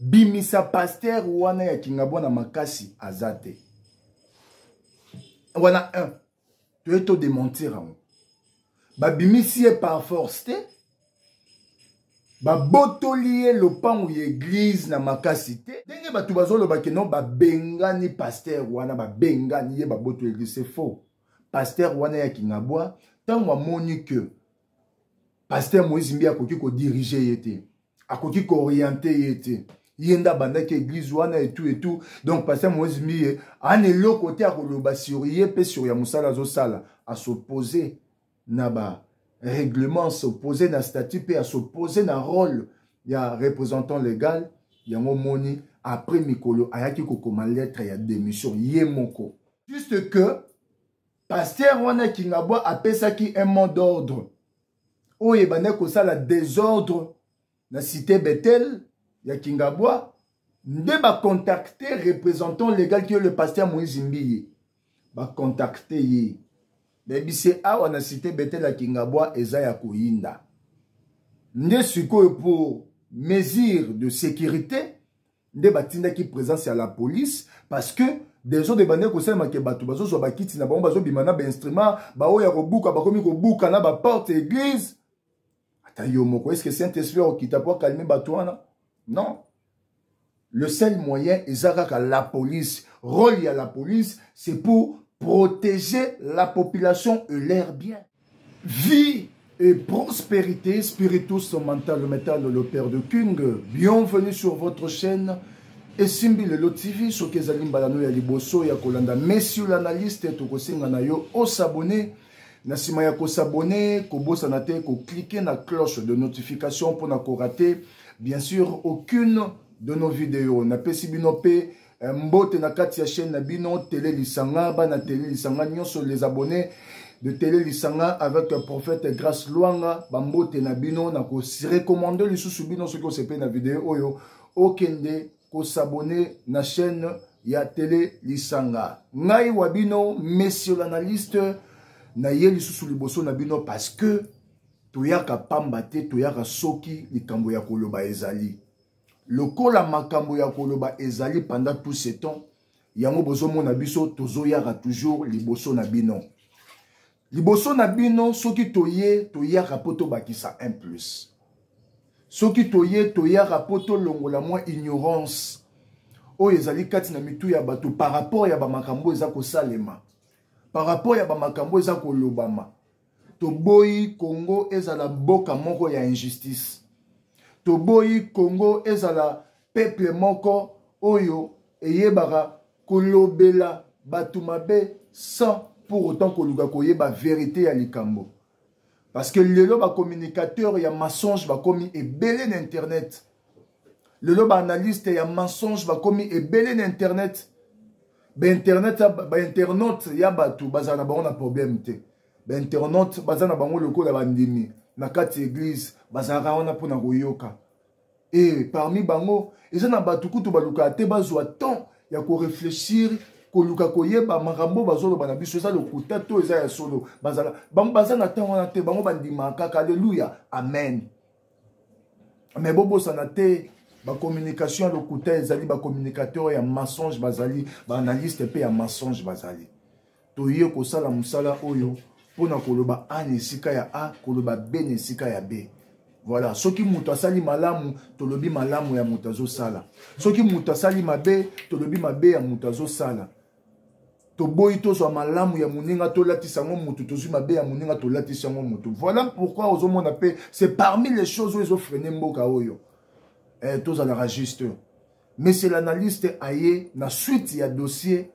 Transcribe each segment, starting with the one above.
bimisa pasteur wana ya kingabwa na makasi aza te wana un toye todementir yango babimisi ye par force te babotoli ye lopango ya eglize na makasi te ndenge bato bazoloba keno babengani paster wana babengani ye babotoli eglize se faux paster wana ya kingabwa ntango amoni ke paster moise mbi akoki kodirige ye te akoki kooriente ye te ye nde abandaki eglize wana etu etu donc paster moise mbiye ana eloko te akoloba sur ye mpe sur ya mosala azosala asopose na ba règlement asopose na statut mpe asopose na rôle ya représentant légal yango omoni après mikolo ayaki kokoma lettre ya démission ye moko juste que paster wana kingabwa apesaki un mot d'ordre oyo ebandaki kosala desordre na cité bethel ya kingabwa nde bacontacte représentant légal kio le pasteur moïse mbiye bacontacte ye bebise awa na cité bethel ya kingabwa eza ya koyinda nde sikoyo pour mesure de sécurité nde batindaki présence ya la police parce que desordre ebandaki kosalema ke bato bazozwa bakiti na bango bazobima na bainstrument baoyo ya kobuka bakomi kobuka na baporte ya église ata yo moko eske saint esprit akokita mpo akalme bato wana non le seul moyen eza kaka la police rôle ya la police c'est pour protéger la population et leur bien Vie et prospérité spiritus mental metal le père de King. Bienvenue sur votre chaîne esimbi lelo TV soki ezali mbala no ya liboso ya kolanda monsieur l'analyste tokosenga na yo osabone na nsima ya kosabone kobosana te koklike na cloche de notification mpo na korate bien sûr aucune de nos videos napesi bino mpe Eh, mbote na kati ya chaîne na bino tele lisanga bana tele lisanga nyonso les abonnés de tele lisanga avec le prophète grace luanga bambote na bino na korecommande lisusu bino soki osepeli na video oyo okende kosabone na chaîne ya tele lisanga ngai wa bino monsieur l'analyste naye lisusu liboso na bino parce que toyaka pamba te toyaka soki likambo ya koloba ezali lokola makambo ya koloba ezali pendant tout ce temps yango bozomona biso tozoyaka toujours liboso na bino liboso na bino soki toye toyaka mpo tobakisa un plus soki toye toyaka mpo tolongola mwa ignorance oyo ezali kati na mitu ya bato par rapport ya bamakambo eza kosalema par rapport ya bamakambo eza kolobama toboyi congo ezala mboka moko ya injustice toboyi congo ezala peuple moko oyo eyebaka kolobela bato mabe sans pour autant koluka koyeba verite ya likambo parce que lelo bacommunicateur ya mensonge bakomi ebele na internet lelo baanalyste ya mensonge bakomi ebele na internet bainternet bainternaute ya bato bazala na bango na problème te bainternaute baza na bango lokola bandimi na kati ya eglize bazalaka wana mpo na koyoka e parmi bango eza na bato kutu balukaka te bazwa temps ya koreflechir koluka koyeba makambo bazoloba na biso eza lokuta to eza ya solo bazala bango baza na ntango wana te bango bandimaka kaka aleluya amen mais bobosana te bacommunication ya lokuta ezali bacommunicateur ya mensonge bazali baanalyste mpe ya mensonge bazali toye kosala mosala oyo mpo na koloba a na esika ya a koloba b na esika ya b voilà soki moto asali malamu tolobi malamu ya moto azosala soki moto asali mabe tolobi mabe ya moto azosala toboyi tozwa malamu ya moninga tolatisa yango motu tozwi mabe ya moninga tolatisi yango motu voilà pourquoi ozomona mpe c'est parmi les choses oyo ezofrene mboka oyo eh, tozalaka juste mais c'est l'analyste aye na suite ya dossier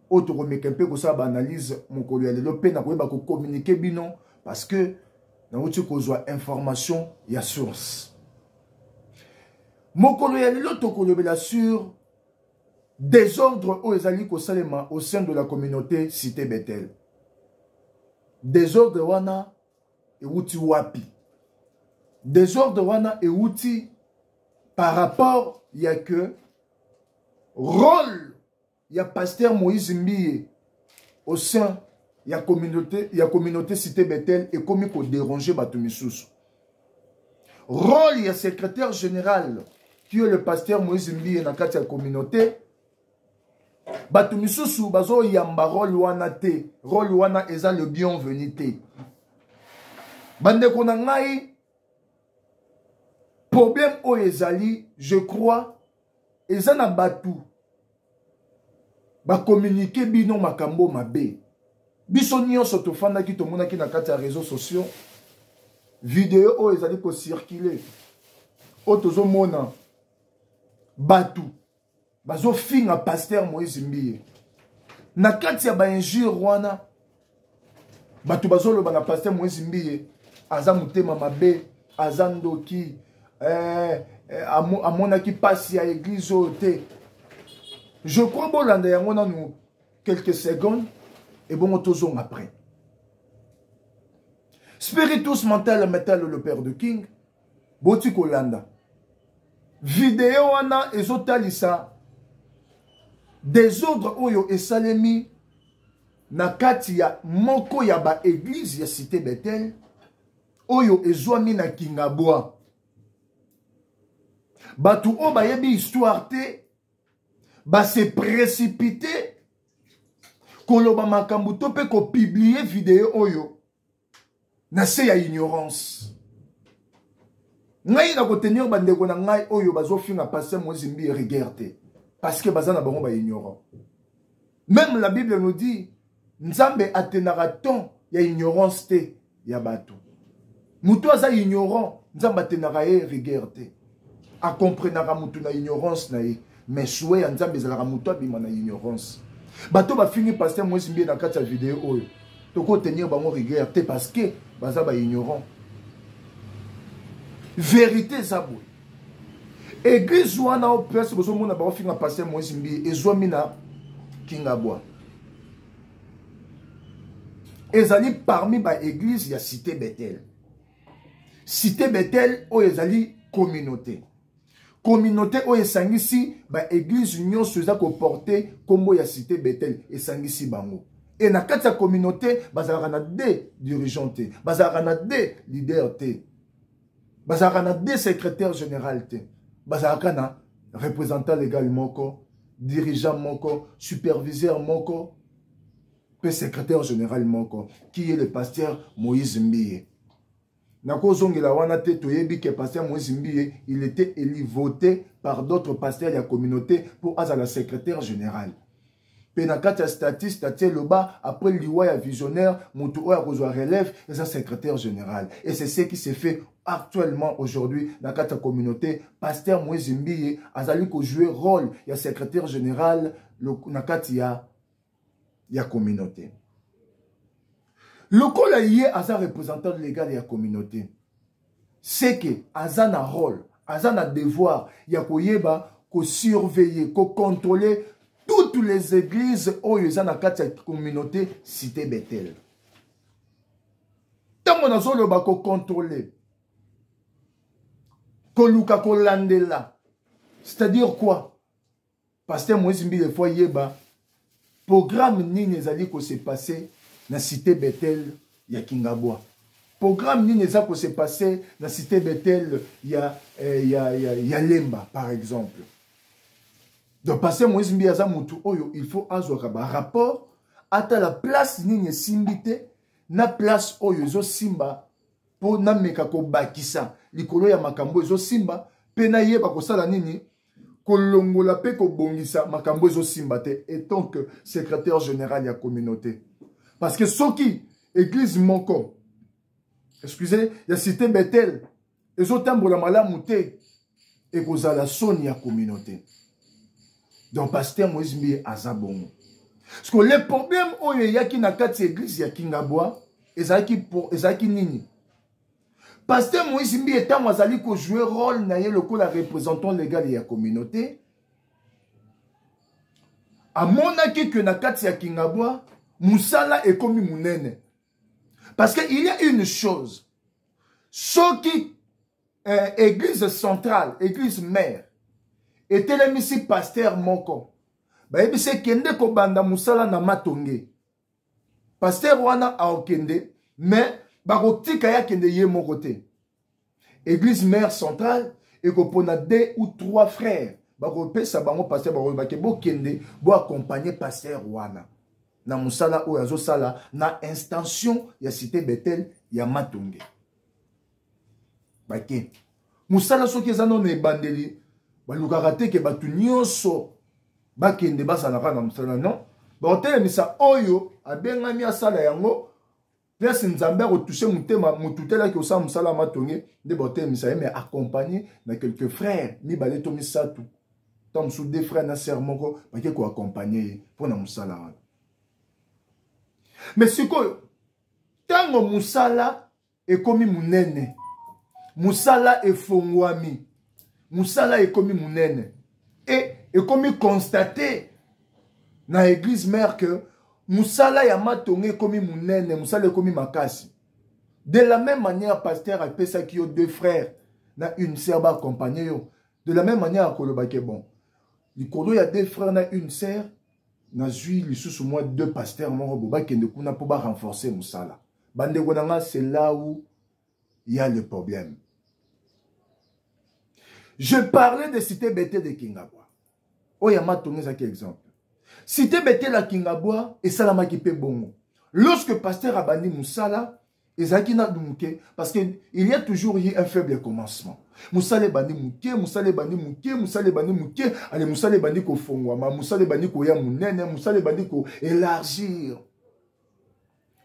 oyo tokomeka mpe kosala baanalyse mokolo ya lelo mpe nakoyeba kokommunike bino parce que nauti kozwa information ya source mokolo ya lelo tokolobela sur desordre oyo ezali kosalema au sein de la communauté cité bethel desordre wana euti wapi desordre wana euti par rapport ya que rôle ya pasteur moïse mbiye au sein ya communauté ya communauté cité Bethel ekomi ko déranger bato misusu rôle ya secrétaire général qui est le pasteur Moïse Mbiye na kati ya communauté bato misusu bazoyamba role wana te role wana eza le bienvenu te bandeko na ngai problème oyo ezali je crois eza na bato bakominike bino makambo mabe biso nyonso tofandaki tomonaki na kati ya réseau sociaux video oyo ezali kocircule oyo tozomona bato bazofinga paster moïse mbiye na kati ya bainjure wana bato bazoloba na paster moise mbiye aza motema mabe aza ndoki eh, eh, amonaki mpasi ya eglize oyo te je crois bolanda yango nanu quelques secondes ebongo tozonga après spiritus mental metal le père de king boti kolanda video wana ezotalisa desordre oyo esalemi na kati ya moko ya baeglize ya cité betel oyo ezwami na kingabwa bato oyo bayebi histoire te base précipite koloba makambo to mpe kopiblie video oyo na se ya ignorance ngai nakotenir bandeko na ngai oyo bazofinga paster moise mbi rigueur te parce que baza na bango baignorant même la bible nous dit nzambe atenaka temps ya ignorance te ya bato moto aza ignorant nzambe atenaka ye rigueur te akomprenaka motu na ignorance na ye mais sue ya nzambe ezalaka motu abima na ignorance bato bafingi paster moise mbie na kati ya video oyo tokotenir bango rigueur te parce que baza baignorant verité eza boye eglise wana o place bozomona baofinga paster moise mbie ezwami na kingabwa ezali parmi baeglise ya cité bethel site betel oyo ezali communauté communauté oyo esangisi baeglize nyonso eza koporte nkombo ya site betel esangisi bango e na kati ya communauté bazalaka na de dirigeant te bazalaka na de leader te bazalaka na de secrétaire général te bazalaka na représentant légal moko dirigeant moko superviseur moko mpe secrétaire général moko qui est le pasteur moïse mbiye nakozongela wana te toyebi ke pasteur moïse mbiye il était élu voté par d'autres pasteurs ya communauté mpo azala secrétaire général mpe na kati ya statiste atie loba après liwa ya visionnaire moto oyo akozwa relève eza secrétaire général et c'est ce qui se fait actuellement aujourd'hui na kati ya communauté pasteur moïse mbiye azali kojouer rôle ya secrétaire général na kati ya ya communauté lokola ye aza représentant légal ya communauté seke aza na rôle aza na devoir ya koyeba kosurveiller kocontrôler toutes les églises oyo eza na kati ya communauté cité bethel ntango nazoloba kocontrôler koluka kolandela c'est-à-dire quoi pasteur moïse mbile fo ayeba programme nini ezali kose passe na cité bethel ya kingabwa programme nini eza kose passe na cité bethel ya, eh, ya, ya, ya lemba par exemple donc passe moïse mbi aza motu oyo il faut azwaka barapport atala place nini esimbi te na place oyo ezosimba mpo nameka kobakisa likolo ya makambo ezosimba mpe nayeba kosala nini kolongola mpe kobongisa makambo ezosimba te etant que secrétaire général ya communauté parce que soki église moko excusez ya cité bethel ezotambola malamu te ekozala soni ya communauté donc pasteur moïse mbiye aza bongo parce que le problème oyo eyaki na kati ya église ya kingabwa ezalaki, ezalaki nini Pasteur Moïse Mbiye ntango azali kojoue rôle na ye lokola représentant légal ya communauté amonaki ke na kati ya kingabwa mosala ekomi monene parce que il y a une chose soki euh, église centrale église mère etelemisi pasteur moko bayebisi ekende kobanda mosala na matonge pasteur wana aokende mais bakotika ye akende ye moko te église mère centrale ekopona deux ou trois frères bakopesa bango pasteur bakobake bokende boaccompagne pasteur wana na mosala oyo azosala na instantion ya cité betel ya matonge bake mosala soki eza no na ebandeli balukaka te ke bato nyonso bakende bazalaka na mosala non bakotelemisa oyo abengami asala yango place nzambe akotushe motema motu telaki osala mosala ya matonge nde bakotelemisa ye mais accompagne na quelques frères mibale to misato ntango mosusu de frère na sœur moko bake koaccompagne ye mpo na mosala wana mais sikoyo ntango mosala ekomi monene mosala efongwami mosala ekomi monene e ekomi constate na eglise mare ke mosala ya matonga ekomi monene mosala ekomi makasi de la même manière pasteur apesaki yo deux frères na une sœur baakompagne yo de la même manière akolobake bon likolo ya deux frères na une sœur nazwi lisusu mwa deux pasteur moko bo bakende kuna mpo barenforce mosala bandeko na nga c'est là où il y a le problème je parlais de cité bete de kingabwa oyo ya matonga ezalaki exemple cité bete na kingabwa esalamaki mpe bongo lorsque pasteur abandi mosala ezalaki nanu moke parce que il y a toujours eu un faible commencement mosala ebandi moke mosala ebandi moke mosala ebandi moke ale mosala ebandi kofongwama mosala ebandi koya monene mosala ebandi koélargir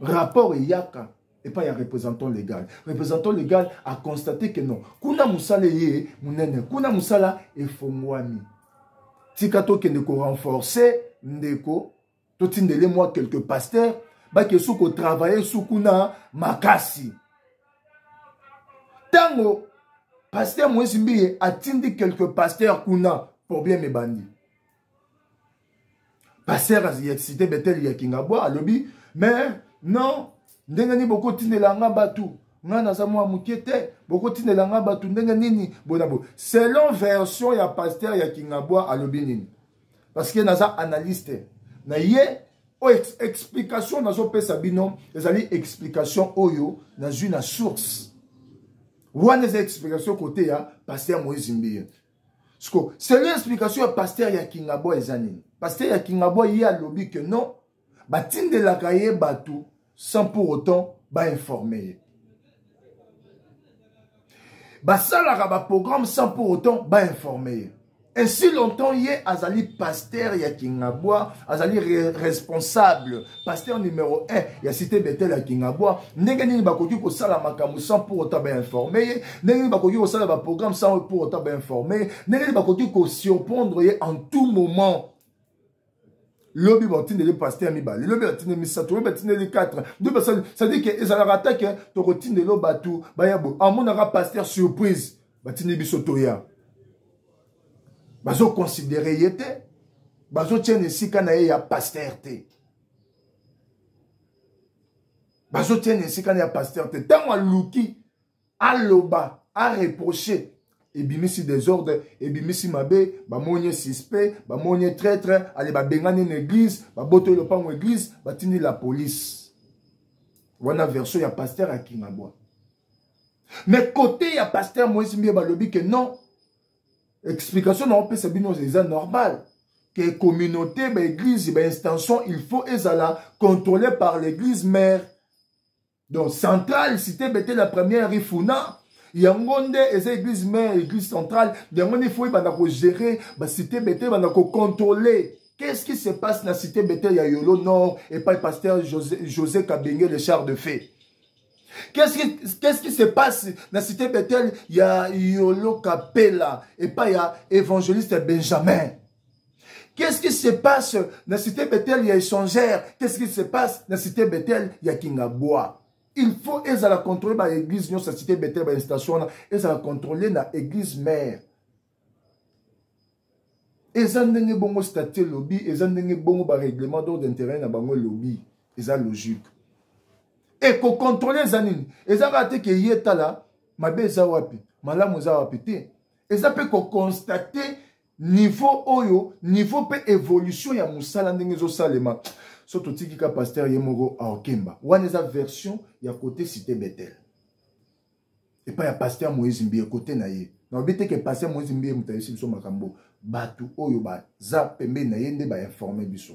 rapport eyaka epai ya représentant légal représentant légal aconstate que non kuna mosala eye monene kuna mosala efongwami tika tokende korenforce ndeko totindele mwa quelque pasteur bake su kotravaille su kuna makasi ntango pasteur moyesi mbiye atindi quelque pasteur kuna problème ebandi pasteur ya cité betel ya kingabwa alobi mais non ndenge nini bokotindela nga bato nga naza mwa moke te bokotindela nga bato ndenge nini bona bo selon version ya pasteur ya kingabwa alobi nini parce que naza analyste na ye oyo ex explication nazopesa bino ezali explication oyo nazwi na source wana eza explication kote ya pasteur moise mbiye siko selon explication ya pasteur ya kingabwa eza nini pasteur ya kingabwa ye alobi ke non batindelaka ye bato sans pour autant bainforme ye basalaka baprogramme sans pour autant bainforme ye ainsi longtemps ye azali pasteur ya kingabwa azali re responsable pasteur numero 1 ya cité betel ya kingabwa ndenge nini bakoki kosala makambo sans pour autant bainforme ye ndenge nini bakoki kosala baprogramme sans pour autant bainforme ye ndenge nini bakoki kosurprendre ye en tout moment lobi batindeli paster mibale lobi batindeli misato lobi batindeli 4 nde basali cestadire ke ezalaka ata ke tokotindelo bato baya boye amonaka paster surprise batindeli biso toya bazoconsidere ye te bazotia na esika na ye ya paster te bazotia na esika na ya paster te ntango aluki aloba areproche ebimisi desordre ebimisi mabe bamoni ye suspect bamoni ye traitre ale babengani na église babotoli lopango église batindi la police wana version ya paster akingabwa mais kote ya paster moise mbiye balobi ke non explication na opesa bino eza normal que communauté baeglise bainstantion il faut ezala contrôlé par l'église mère donc centrale cité bete la première ifuna yango nde eza église mère église centrale yango nde ifo ebanda kogérer bacité bete ebanda kocontrôle qu'est-ce qui se passe na cité bete ya yolo nord epai pasteur josé, josé kabenge le char de fait Qu'est-ce qui, qu'est-ce qui se passe na cité Bethel ya Yolo Kapela et pas ya évangéliste Benjamin? Qu'est-ce qui se passe na cité Bethel ya échangère? Qu'est-ce qui se passe na cité Bethel ya Kingaboa? Il faut ezala contrôler ba église nyonso ya cité Bethel ba station wana ezala contrôler na église mère. eza ndenge bongo statut elobi eza ndenge bongo barèglement d'ordre intérieur na bango elobi eza logique e kocontrole eza nini eza kaka te ke ye tala mabe eza wapi malamu eza wapi te eza mpe kokonstate niveau oyo niveau mpe évolution ya mosala ndenge ezosalema so totiki ka paster ye moko aokemba wana eza version ya kote cité betel epai ya paster moïse mbiye kote na ye nalobi te ke paster moïse mbiye moto ayebisi biso makambo bato oyo baza pembeni na ye nde bainforme biso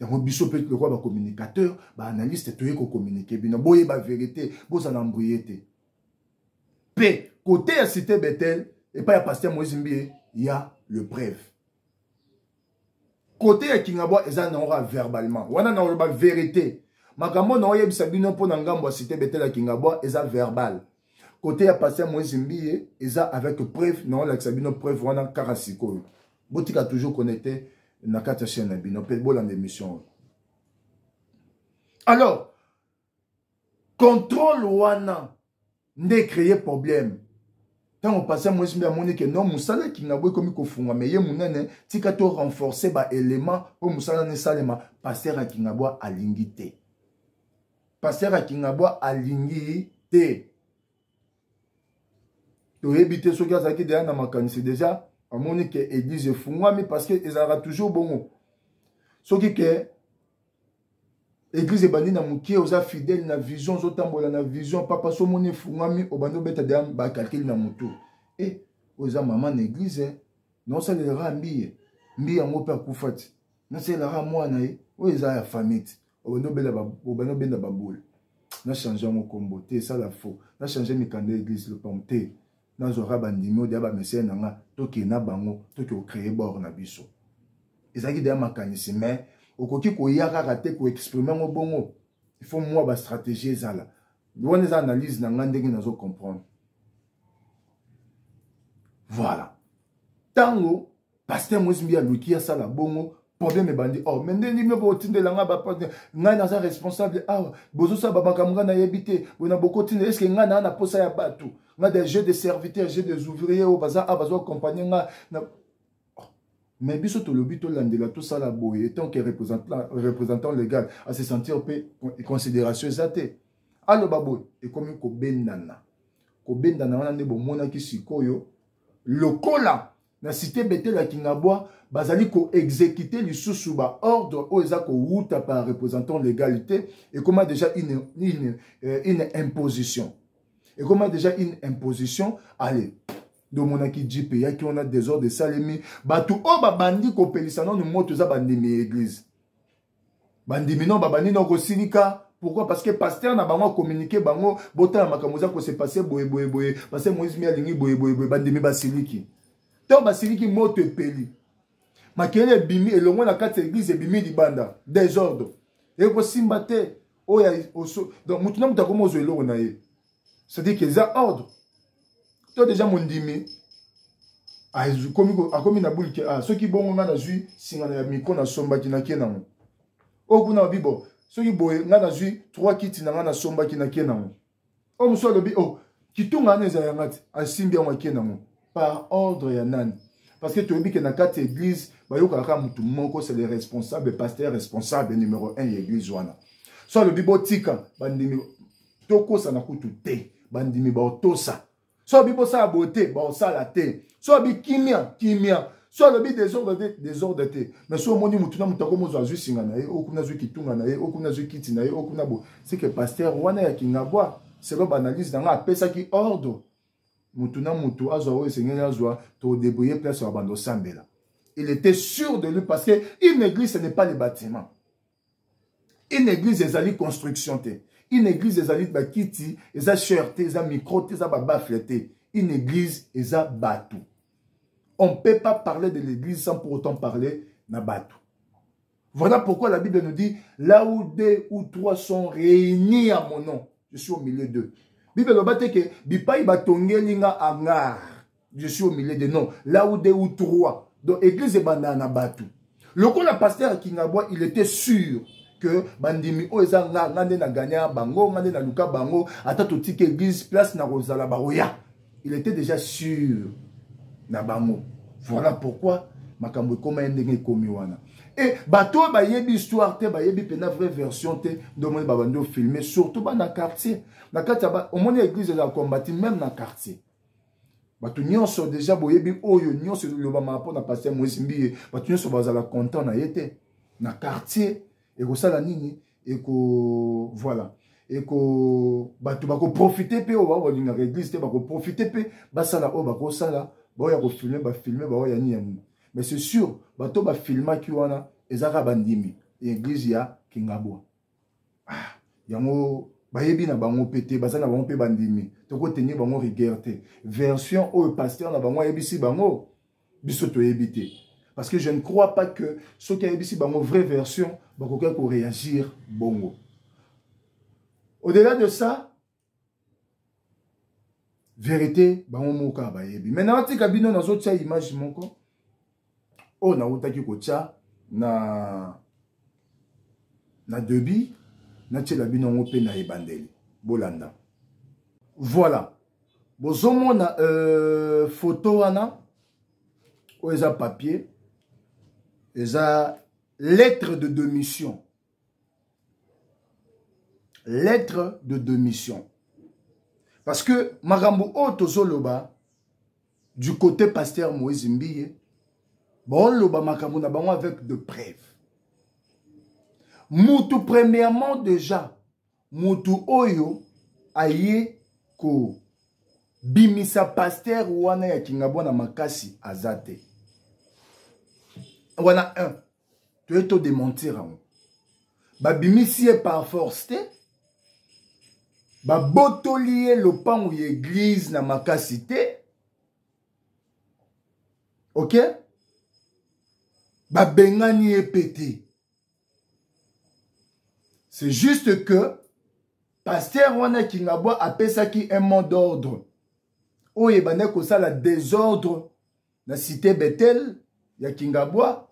yango biso mpe lokola bacommunicateur baanalyste toye kocommunike bino boyeba verité bozala mbrie te mpe kote ya cité betel epai ya paster moïse mbiye ya le preuve kote ya kingabwa eza nango kaka verbalement wana nakoloba verité makambo naoyebisa bino mpo na ngambo ya site betela kingabwa eza verbal kote ya paster moise mbiye eza avec preuve naolakisa bino preuve wana kaka sikoyo botika toujours connecte na kati ya chaîne na bino mpe bolanda émission oyo alors contrôle wana nde ecreye problème ntango patient moyesi mpe amoni ke non mosala ya kingabo ekomi kofungwama eye monene tika to renforce baélément mpo mosala na esalema paster ya kingabwa alingi te paster ya kingabwa alingi te toyebi te soki azalaki deja na makanisi deja amoni ke église efungwami parce que ezalaka toujours bongo soki ke eglize ebandi na moke oza fidèle na vision ozotambola na vision papa so omoni efungwami obandi obeta deya bakalkile na motu e eh, oza mama na eglize eh. naosalelaka mbiye mbiye yango mpe akufa ti nasalelaka mwana ye eh. oyo eza ya famille ti obandi obenda babole na change yango nkombo te esala faux na change mikanda ya eglize lopango te nazwaka bandimi oyo deya bamesene na nga tokee na bango toke kocreye bord na biso ezalaki deya makanisi mais okoki koya kaka te koexprime yango bongo il faut mwa bastratégie ezala wana eza analyse na nga ndenge nazo comprendre voilà ntango pasteur moise mbi aluki asala bongo problème ebandi or oh, me nde ndimi botindela ngai bapate ngai naza responsable awa ah, bozosala bamakambo ngai nayebi te boye na bokotindela estce ngai naa na mposa ya bato ngai de jeu de serviteur jeu des ouvrier oyo oh, baza awa ah, bazoakompagne ngai na oh, mais biso tolobi tolandela tosala boye etant que représentant légal à se sentir mpe considération eza te aloba boye ekomi kobendana kobendana wana nde bomonaki sikoyo lokola na cité betele ya kingabwa bazali koexekite lisusu baordre oyo eza kowuta par représentant légal te ekoma déjà une, une, euh, une imposition ekoma déjà une imposition allez ndomonaki jipe eyaki wana desordre esalemi bato oyo babandi kopelisa nano moto eza bandimi ya eglize bandimi no babandi no kosilika pourquoi parce que pasteur na bango akominike bango botala makambo eza kose passe boyeboyeboye parce que moïse mi alingi boyeboyeboye bandimi basiliki ntango basiliki moto epeli makele ebimi elongo na kati ya eglize ebimi libanda desordre ekosimba te oyo donc motu na moto akomi ozwa eloko na ye c'est-à-dire que eza ordre to deja mondimi akomi na buli ke ah, soki bongo ngai nazwi singana ya mikro nasombaki nake nango oyo kuna alobi bo soki boye ngai nazwi trois kiti na ngai nasombaki nake nango oyo mosusu alobi o oh, kitunga wana ezala yanga te asimbi yango ake nango par ordre ya nani parce que toyebi ke na kati ya église bayokaka kaka motu moko c'est le responsable pasteur responsable numéro 1 ya église wana so alobi botika bandimi tokosana kutu te bandimi baotosa so alobi bosala boye te baosala te so alobi kimia kimia so alobi desordre te desordre te mais so omoni motu na motu ako mozwa azwi singa na ye okuna azwi kitunga na ye okuna azwi kiti na ye okuna bo seke pasteur wana ya kingabwa selo baanalyse na ngai apesaki ordre mutu na mutu azwa oyo esengeli azwa todebrouille place ya banda osambela il était sûr de lui parce que une église ce n'est pas le bâtiment une église ezali construction te une église ezali bakiti eza chair te eza micro te eza babafle te une église eza bato on peut pas parler de l'église sans pour autant parler na bato Voilà pourquoi la Bible nous dit, là où deux ou trois sont réunis à mon nom, je suis au milieu d'eux. Bible nous dit que bipai batongeli nga angar, je suis au milieu de non. Là où deux ou trois, donc église banda na batu. Le coup la pasteur Kingabwa, il était sûr que bandimi oyo eza nga nga nde na gagna bango nga nde na luka bango ata totika église place na kozala baoya il était déjà sûr na bango voilà pourquoi makambo ekoma ye ndenge ekomi wana e bato oyo bayebi histoire te bayebi mpena vraie version te nde omoni babandi ofilme surtout bana quartier na kati ya omoni église ezala combati même na quartier bato nyonso deja boyebi oyo nyonso elobamaka mpo na paster moise mbiye bato nyonso bazala content na ye te na quartier ekosala nini eko voilà eko bato bakoprofite mpe oyo balingaka eglise te bakoprofite mpe basala oyo bakosala baoya kofilme bafilme baoya nini ya nini mais c'est sûr bato bafilmaki wana eza kaka bandimi ya eglise ya kingabwa ah, yango bayebi na bango mpe te baza na bango mpe bandimi tokotenir bango rigueur te version oyo paster na bango ayebisi bango biso toyebi te parce que je ne crois pas que soki ayebisi bango vraie version bakokaki koréagir bongo au-delà de ça vérité bango moko kaka bayebi mai natika bino nazotya image moko oyo nautaki kotya na na debut natiela bino yango mpe na ebandeli bolanda voilà bozomona euh, foto wana oyo eza papier eza lettre de demission lettre de demission parce que makambo oyo tozoloba du côté pasteur moïse mbiye baoloba makambo na bango avec de preuve mutu premièrement déjà mutu oyo aye kobimisa pasteur wana ya kingabwa na makasi aza te wana 1 toye to dementir yango babimisi ye par force te babotoli ye lopango ya eglize na makasi te ok babengani ye mpe te c'est juste que paster wana kingabwa apesaki un mot d'ordre oyo ebandaki kosala désordre na cité bethel ya kingabwa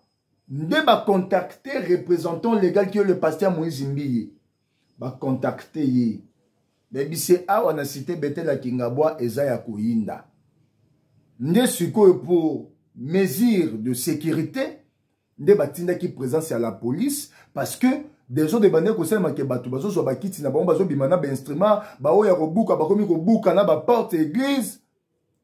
nde bacontacte représentant légal ki yo le pasteur moïse mbiye bacontacte ye bebise awa na cité bethel ya kingabwa eza ya koyinda nde sikoyo pour mesure de sécurité nde batindaki présence ya la police parce que dezo de bande kosalema ke bato bazozwa bakiti na bango bazobima na bainstrument baoyo ya kobuka bakomi kobuka na baporte ya église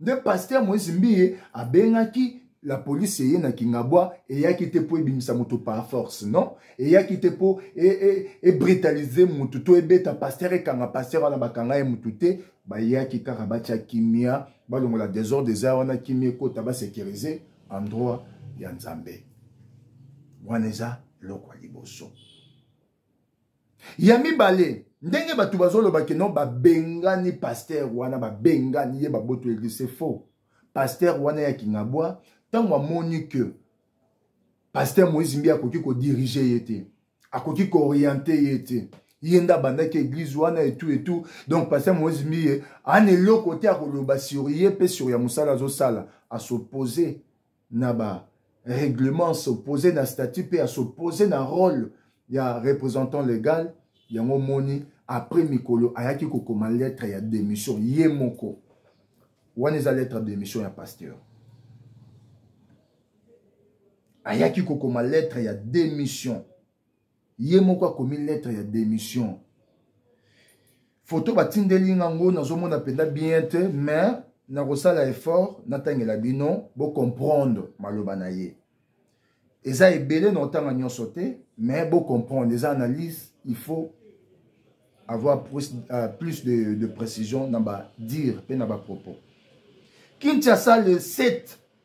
nde paster moïse mbiye abengaki la police eye na kingabwa eyaki te mpo ebimisa moto par force non eyaki te mpo ebritalize e, e motu to ebeta paster ekanga paster wana bakanga ye motu te bayaki kaka batya kimia balongola desordre eza wana kimia ekota basecurise endroit ya nzambe wana eza eloko ya liboso ya mibale ndenge bato bazoloba keno babengani paster wana babengani ye baboto eglise c'est faux paster wana ya kingabwa ntango amoni ke paster moïse mbi akoki kodirige ye te akoki kooriente ye te ye nde abandaki eglise wana etu etu donc paster moïse mbi ye ana eloko te akoloba sur ye mpe sur ya mosala azosala asopose na ba règlement s'opposer na statut mpe ya s'opposer na rôle ya représentant légal yango omoni après mikolo ayaki kokoma lettre ya démission ye moko wana eza lettre ya démission ya pasteur ayaki kokoma lettre ya démission ye moko akomi lettre ya démission foto batindeli nga ngo nazomona mpenza bien te mais nakosala effort natangela bino bocomprendre maloba na ye eza ebele na otanga nyonso te mais bocomprendre eza analyse il faut avoir plus, euh, plus de, de précision na badire mpe na bapropos kinshasa le 7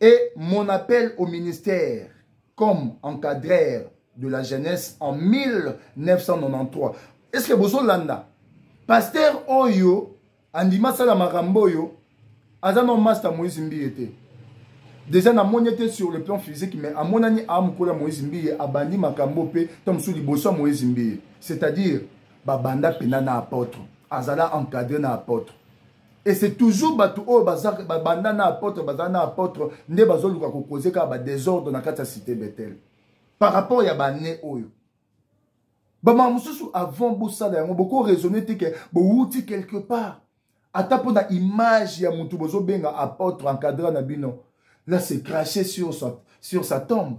Et mon appel au ministère comme encadreur de la jeunesse en 1993. Est-ce que Bozo Landa, pasteur Oyo, Andima Sala Maramboyo, Azano Master Moïse Mbiete. Déjà, na moni était sur le plan physique, mais à mon année, à Moukola Moïse Mbiye, à Bandi Makambo Pe, Tom Souli Bosso Moïse Mbiye. C'est-à-dire, Babanda Pena na apôtre, Azala encadré na apôtre. et c'est toujours bato oyo babanda na apôtre bazala na apôtre nde bazoluka kokoze kaka badésordre na kati ya cité bethel par rapport ya bane oyo bamaka mosusu avant bosala yango bokoraisonne te ke bowuti quelque part ata mpo na image ya motu bozobenga apôtre encadra na bino là c'est craché sur sa, sur sa tombe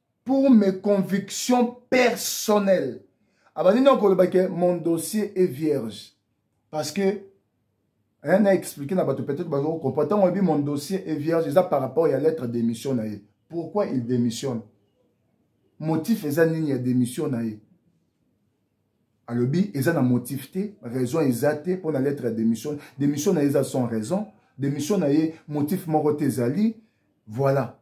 pour mes convictions personnelles abandi na koloba ke mon dossier est vierge parce que rien na expliquer na bato peut-être bazo comprendre ntango oyebi mon dossier est vierge eza par rapport ya lettre d'émission na ye pourquoi il démissionne motif eza nini ya démission na ye alobi eza na motif te raison eza te mpo na lettre ya démission démission na ye eza sans raison démission na ye motif moko te ezali voilà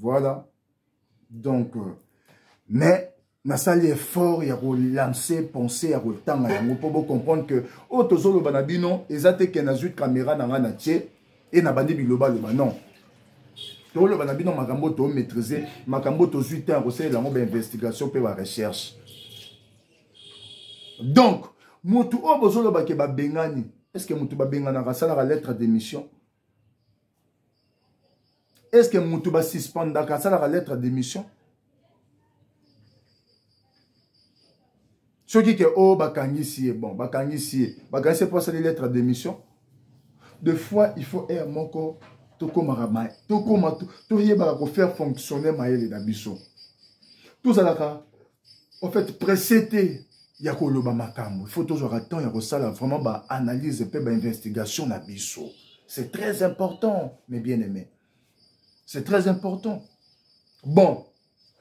voilà donc euh, mais nasali effort ya kolancer pensée ya kotanga yango mpo bocomprendre que oyo tozoloba na bino eza te ke nazwi kamera na ngai na tie e nabandi bilobaloba non toloba na bino makambo tomaîtrise makambo tozwi ntango kosalela yango bainvestigation mpe barecherche donc motu oyo bozolobake babengani est ce que motu babenganaka asalaka lettre d'émission est ce que moto basuspendaka asalaka lettre d'émission soki ke oyo oh, bakangisi ye bon bakangisi ye bakangisi ye mpo asali lettre d'émission de fois il faut aire moko tokomaka maye tokoma toyebaka kofaire fonctionner mayele na biso tozalaka en fait presse te ya koloba makambo il faut tozwaka temps ya kosala vraiment baanalyse mpe bainvestigation na biso c'est très important mes bien aimé c'est très important bon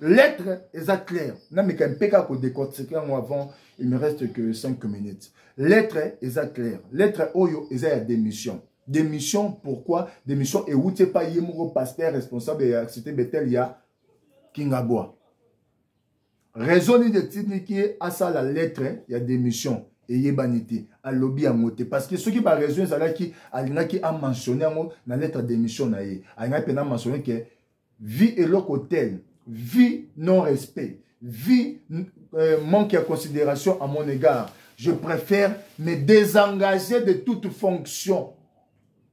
lettre eza claire nameka mpe kaka kodecortike yango avant il me reste que 5 minutes lettre eza claire lettre oyo eza ya démission démission pourquoi démission ewuti epai ye moko pasteur responsable ya cité betel ya kingabwa raison nini etindiki ye asala lettre ya démission eyebani te alobi yango te parce que soki baraison ezalaki alingaki amentionne yango na lettre ya démission na ye alingaki mpe na mentionne ke vie eloko tel vie non respect vie euh, manque ya considération à mon égard je préfère me désengager de toute fonction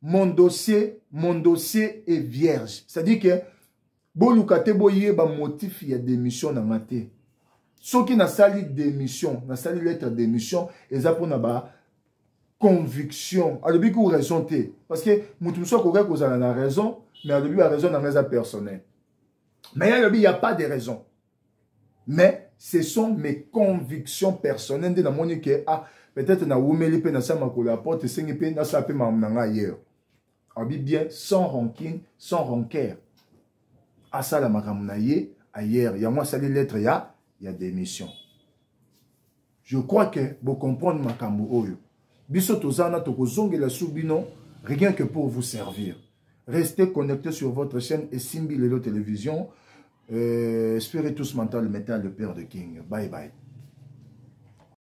mon dossier mon dossier est vierge c'est-à-dire que boluka te boyeba motif ya démission na nga te soki nasali démission nasali lettre démission eza mpona ba conviction alobi ku raison te parce que moto mosusu akokaki kozala na raison mais alobi ba raison na nga eza personnel mais ye alobi ya pas de raison mais ce sont mes convictions personnelles nde namoni ke ah peut-être nawumeli mpe nasala makolo ya porte esengi mpe nasala mpe makambo na ngai ailleurs abi bien sans rancune sans rancaire asala makambo na ye ailleurs yango asali lettre ya ya démission je crois que bo comprendre makambo oyo biso toza wana tokozongela su bino rien que pour vous servir restez connecté sur votre chaîne esimbi lelo télévision euh, spiritus mental metal le père de king bye bye